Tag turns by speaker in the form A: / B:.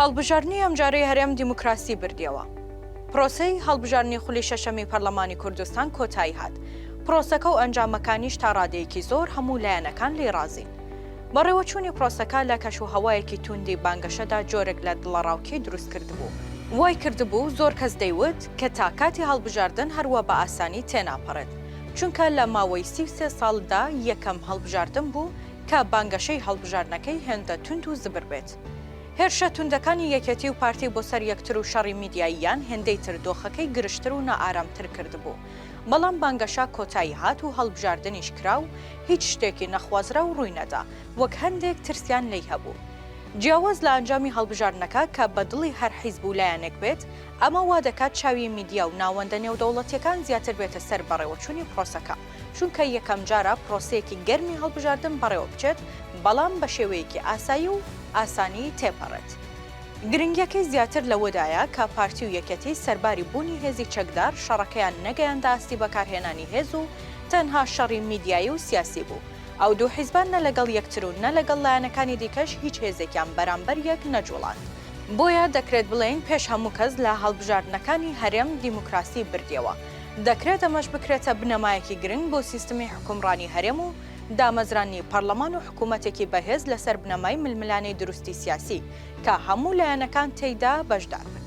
A: هەڵبژاردنی ئەمجارەی هەرێم دیموکراسی بردیەوە. پرۆسەی هەڵبژاردنی خولی شەشەمی پەرلەمانی کوردستان کۆتایی هات. پرۆسەکە و ئەنجامەکانیش تا ڕادەیەکی زۆر هەموو لایەنەکان لێی ڕازین. بەڕێوەچوونی پرۆسەکە لە کەش و هەوایەکی تووندی بانگەشەدا جۆرێک لە دڵەڕاوکێی دروست کردبوو. وای کردبوو زۆر کەس دەیوت کە تا کاتی هەڵبژاردن هەروا بە ئاسانی تێناپەڕێت. چونکە لە ماوەی سی و سێ ساڵ دا یەکەم هەڵبژاردن بوو کە بانگەشەی هەڵبژاردنەکەی هێندە توند و زبر بێت. هێرشە توندەکانی یەکێتی و پارتی بۆ سەر یەکتر و شەڕی میدیاییان هێندەی تر دۆخەکەی گرژتر و نائارامتر کردبوو، بەڵام بانگەشە کۆتایی هات و هەڵبژاردنیش کرا و هیچ شتێکی نەخوازراو ڕووی نەدا، وەک هەندێک ترسیان لێی هەبوو. جیاواز لە ئەنجامی هەڵبژاردنەکە کە بە دڵی هەر حیزب و لایەنێک بێت، ئەمە وا دەکات چاوی میدیا و ناوەندە نێودەوڵەتییەکان زیاتر بێتە سەر بەڕێوەچوونی پڕۆسەکە. چونکە یەکەمجارە پرۆسەیەکی گەرمی هەڵبژاردن بەڕێوەبچێت، بەڵام بە شێوەیەکی ئاسایی و ئاسانی تێپەڕێت. گرنگییەکەی زیاتر لەوەدایە کە پارتی و یەکێتی سەرباری بوونی هێزی چەکدار، شەڕەکەیان نەگەیاندە ئاستی بەکارهێنانی هێز و تەنها شەڕی میدیایی و سیاسی بوو. ئەو دوو حیزبە نە لەگەڵ یەکتر و نە لەگەڵ لایەنەکانی دیکەش هیچ هێزێکیان بەرامبەر یەک نەجوڵاند. بۆیە دەکرێت بڵێین پێش هەموو کەس لە هەڵبژاردنەکانی هەرێم دیموکراسی بردیەوە. دەکرێت ئەمەش بکرێتە بنەمایەکی گرنگ بۆ سیستمی حوکمڕانی هەرێم و دامەزراندنی پەڕڵەمان و حکوومەتێکی بەهێز لەسەر بنەمای ململانێی دروستی سیاسی کە هەموو لایەنەکان تێیدا بەشدار بن.